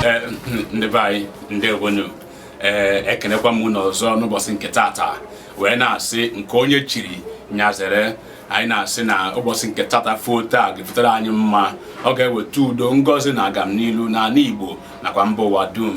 eh, ndị be anyị ndewonu ee eh, ekenekwa m unu ọzọ n'ụbọchị nke tata wee na-asị nke onye chiri nya zere anyị na-asị na ụbọchị nke tata foo taa ga-efotere anyị mma ọ ga-eweta udo ngozi na agamnilu n'ala Igbo nakwa mba ụwa dum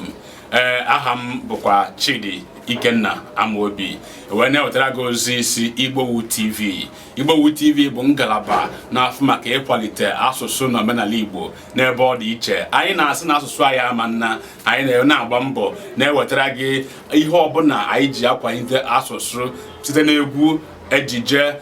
ee aha m bụkwa Chidi Ikenna Amobi wee na-ewetara gị ozi isi Igbowood TV Igbowood TV bụ ngalaba na-afụ maka ịkwalite asụsụ na omenala Igbo n'ebe ọ dị iche anyị na-asị na asụsụ anyị ama nna anyị na-agba mbọ na-ewetara gị ihe ọbụla anyị ji akwalite asụsụ site n'egwu ejije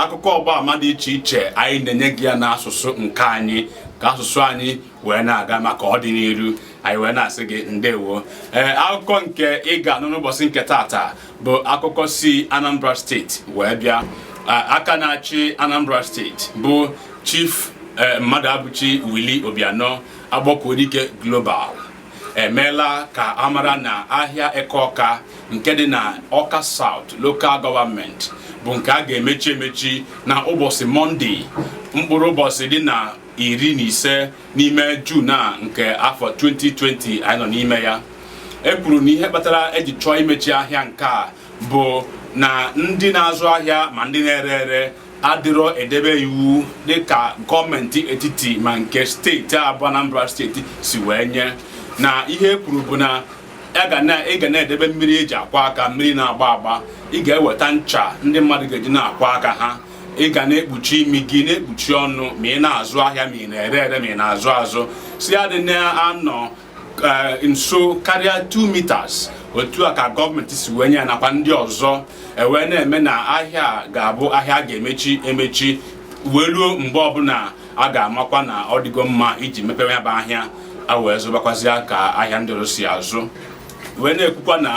akụkọ ọgba ama dị iche iche anyị na-enye gị ya n'asụsụ nke anyị ka asụsụ anyị wee na-aga maka ọdịnihu anyị wee na-asị gị ndewo ee akụkọ nke ị ga-anụ n'ụbọchị nke taata bụ akụkọ si Anambra steeti wee bịa aka na-achị Anambra steeti bụ Chief e, Mmadụabụchi Willie Obianọ Akpọkuedike Global emeela ka amara na ahịa Eke Ọka nke dị na Ọka South Local Government bụ nke a ga-emechi emechi na ụbọchị Mọnde mkpụrụ ụbọchị dị na iri na ise n'ime Jun a nke afọ 2020 anyị nọ n'ime ya e kwuru na ihe kpatara eji chọọ imechi ahịa nke a bụ na ndị na-azụ ahịa ma ndị na-ere ere adịrọ edebe iwu dịka gọọmenti etiti ma nke steeti a bụ Anambra steeti si wee nye na ihe e kwuru bụ na ị ga na-edebe mmiri eji akwa aka mmiri na-agba agba ị ga-eweta ncha ndị mmadụ ga-eji na-akwa aka ha ị ga na-ekpuchi imi gị na-ekpuchi ọnụ ma ị na-azụ ahịa ma ị na-ere ere ma ị na-azụ azụ sị ha adịna anọ eh, nso karịa 2 meters otu a ka gọọmenti si wee nye ya nakwa ndị ọzọ ewee na-eme na ahịa ga-abụ ahịa a ga-emechi emechi wee ruo mgbe ọbụla a ga-amakwa na ọ dịgo mma iji mepewe ya bụ ahịa a wee zụbakwazịa ka ahịa ndị ọzọ si azụ wee na-ekwukwa na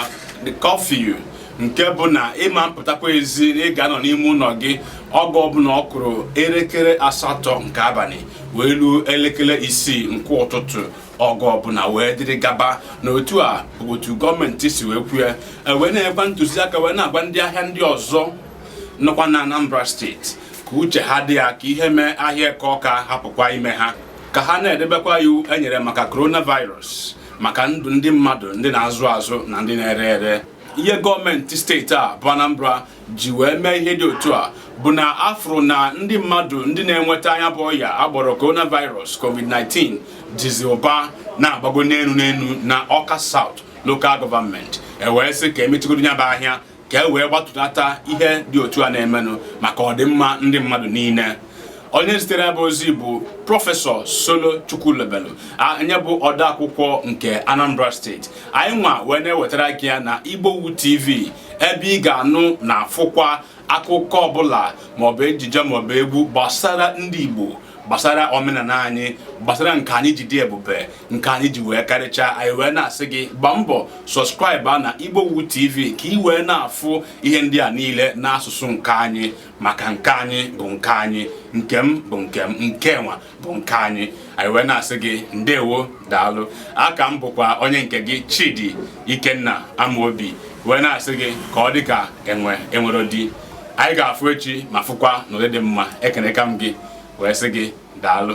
kọfiu nke bụ na ịma mpụtakwa ezi na ị ga-anọ n'ime ụlọ gị oge ọbụla ọ kụrụ elekere asatọ nke abalị wee ruo elekere isii nke ụtụtụ oge ọbụla wee dịrị gaba na otu a otu gọọmenti si wee kwue e wee nyekwa ntụziaka wee na-agwa ndị ahịa ndị ọzọ nọkwa na Anambra steeti ka uche ha dị ya ka ihe mee ahịa Eke Ọka hapụkwa ime ha ka ha na-edebekwa iwu enyere maka coronavirus maka ndụ ndị mmadụ ndị na-azụ azụ na ndị na-ere ere ihe gọọmenti steeti a bụ Anambra ji wee mee ihe dị otu a bụ na afụrụ na ndị mmadụ ndị na-enweta nya bụ ọya a kpọrọ coronavirus covid-19 dịzị ụba na-agbago n'elu n'elu na Ọka South Local Government ewee sị ka emechigodi ya bụ ahịa ka e wee gbatụlata ihe dị otu a na-emenụ maka ọdịmma ndị mmadụ niile onye zitere bụ ozi bụ prọfesọ solo chukwulobelu onye bụ odeakwụkwọ nke anambra steeti anyị nwa wee na-ewetara gị ya na igbowood tv ebe ị ga-anụ na afụkwa akụkọ ọbụla maọbụ ejije maọbụ egwu gbasara ndị igbo gbasara omenala anyị gbasara nke anyị ji dị ebube nke anyị ji wee karịchaa anyị wee na-asị gị gbaa mbọ sọskraịba na igbowood tv ka ị wee na-afụ ihe ndị a niile n'asụsụ nke anyị maka nke anyị bụ nke anyị nke m bụ nke m nke nwa bụ nke anyị anyị wee na-asị gị ndewo daalụ aka m bụkwa onye nke gị chidi ikenna amaobi wee na-asị gị ka ọ dị ka enwe enwere di anyị ga-afụ echi ma fụkwa n'ụdị dị mma ekeneka m gị wee sị gị daalụ